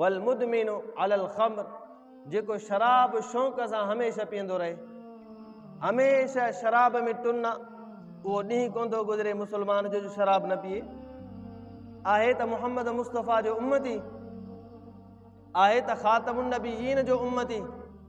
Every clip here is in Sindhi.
والمدمن علی الخمر جيڪو شراب شوق سان هميشه پيئندو رهي هميشه شراب ۾ ٽن اهو ڏينهن ڪون ٿو گذري مسلمان جو جو شراب نه پيئي آهي ته محمد مصطفيٰ جو امتي آهي ته خاتم النبيين جو امتي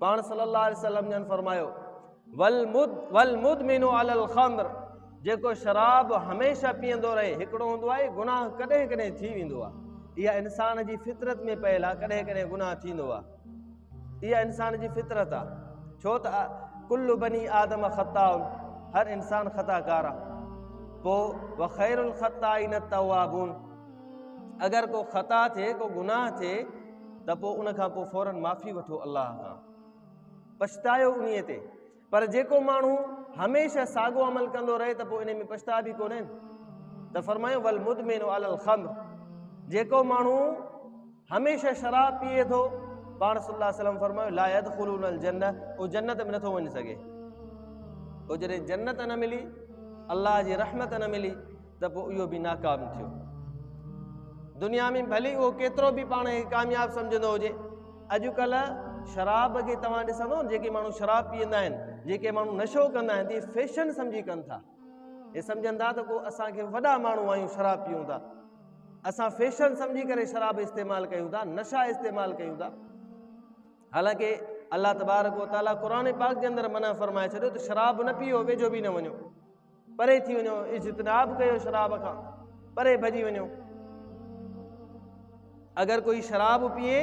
پاڻ صلي الله عليه وسلم جن فرمايو والمد والمدمن على الخمر جيڪو شراب هميشه پيئندو رهي هڪڙو هوندو آهي گناهه ڪڏهن ڪڏهن ٿي ويندو آهي اها انسان جي فطرت ۾ پيل آهي ڪڏهن ڪڏهن گناهه ٿيندو آهي اها انسان جي فطرت آهي ڇو ته ڪل بني آدم خطا هر انسان خطا ڪار آهي پوء وخير الخطائين التوابون اگر ڪو خطا ٿئي ڪو گناهه ٿئي ته پوء ان کان پوء فورن معافي وٺو الله کان پڇتايو انهي تي پر جيڪو ماڻهو هميشه ساڳو عمل ڪندو رهي ته پوء انهي ۾ پڇتاء به ڪونهي ته فرمايو والمدمن على الخمر جيڪو ماڻهو هميشه شراب پيئي ٿو پاڻ صلي الله عليه وسلم فرمايو لا يدخلون الجنه او جنت ۾ نٿو وڃي سگهي او جڏهن جنت نه ملي الله جي رحمت نه ملي ته پوء اهو به ناڪام ٿيو. دنيا ۾ ڀلي اهو ڪيترو به پاڻ کي ڪامياب سمجهندو هجي، اڄڪلهه شراب کي توهان ڏسندو جيڪي ماڻهو شراب پيئندا آهن، جيڪي ماڻهو نشو ڪندا آهن ته اهي فيشن سمجهي ڪن ٿا. اهي سمجهن ٿا ته ڪو اسان کي وڏا ماڻهو آهيون شراب پيئون ٿا. اسان فيشن سمجهي ڪري شراب استعمال ڪيون ٿا، نشا استعمال ڪيون ٿا. حالانڪه الله تبارڪ وتعاليٰ قرآن پاڪ جي اندر منع فرمائي ڇڏيو ته شراب نه پيئو، ويجهو به نه وڃو. پري ٿي وڃو اجتناب ڪيو شراب کان پري ڀڄي وڃو اگر ڪوئي شراب پيئي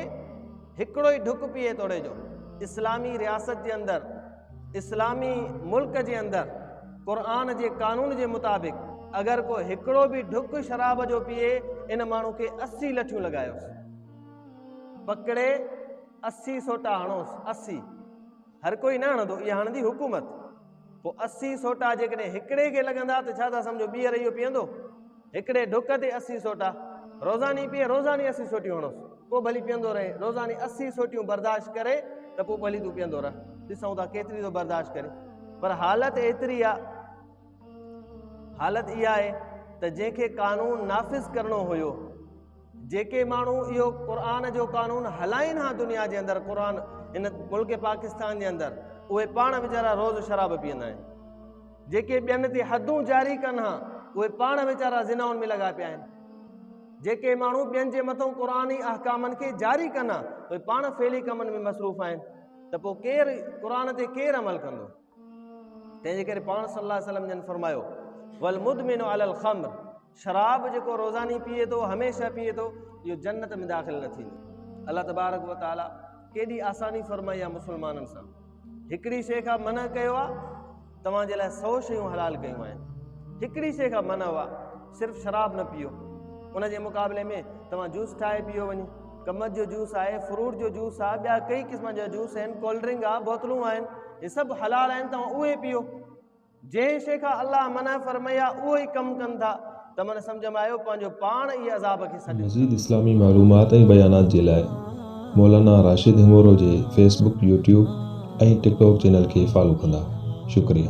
هڪڙو ئي ڍڪ پيئي توڙي جو اسلامي رياست جي اندر اسلامي ملڪ جي اندر قرآن جي قانون جي مطابق اگر ڪو هڪڙو به ڍڪ شراب جو پيئي ان ماڻهو کي اسي لٺيون لڳايوس پڪڙي اسي سوٽا هڻوس اسي هر ڪوئي نه هڻندو اها هڻندي حڪومت پوء اسي سوٽا جيڪڏهن هڪڙي کي لڳندا ته ڇا ٿا سمجهو ٻيهر اهو پيئندو؟ هڪڙي ڍڪ تي اسي سوٽا روزاني پيئي روزاني اسي سوٽيون هڻوس پوء ڀلي پيئندو رهي روزاني اسي سوٽيون برداشت ڪري ته پوء ڀلي تون پيئندو رهه ڏسون ٿا ڪيتري ٿو برداشت ڪري پر حالت ايتري آهي حالت اها آهي ته جنهن کي قانون نافذ ڪرڻو هيو جيڪي ماڻهو اهو قرآن جو قانون هلائين ها دنيا جي اندر قرآن ان ملڪ پاڪستان جي اندر اهي پاڻ ويچارا روز شراب پيئندا آهن جيڪي ٻين تي حدون جاري ڪن ها اهي پاڻ ويچارا ذناؤن ۾ لڳا پيا آهن جيڪي ماڻهو ٻين جي مٿو قرآن جي احڪامن کي جاري ڪن ها اهي پاڻ فعلي ڪمن ۾ مصروف آهن ته پوء ڪير قرآن تي ڪير عمل ڪندو تنهنجي ڪري پاڻ صلي الله وسلم جن فرمايو ول مدمن الخمر شراب جيڪو روزاني پيئي ٿو هميشه پيئي ٿو اهو جنت ۾ داخل نه ٿيندو الله تبارڪ و تعالي ڪيڏي آساني فرمائي آ مسلمانن سان هڪڙي شيء کان منع ڪيو آ توهان جي لاء سو شيون حلال ڪيون آهن هڪڙي شيء کان منع هئا صرف شراب نه پيئو ان جي مقابلي ۾ توهان جوس ٺاهي پيئو وڃي ڪمت جو جوس آهي فروٽ جو جوس آهي ٻيا ڪئي قسم جا جوس آهن ڪولڊ ڊرنڪ آهي بوتلون آهن هي سڀ حلال آهن توهان اهي پيئو جنهن شيء کان الله منع فرمائي آهي اهو ئي ڪم ڪن ٿا ته من سمجهه ۾ آيو پنهنجو پاڻ ئي عذاب کي سڏيو. مزيد اسلامي معلومات ۽ بيانات جي لاء مولانا راشد هيمورو جي Facebook, YouTube ۽ TikTok channel کي فالو ڪندا. شڪريه.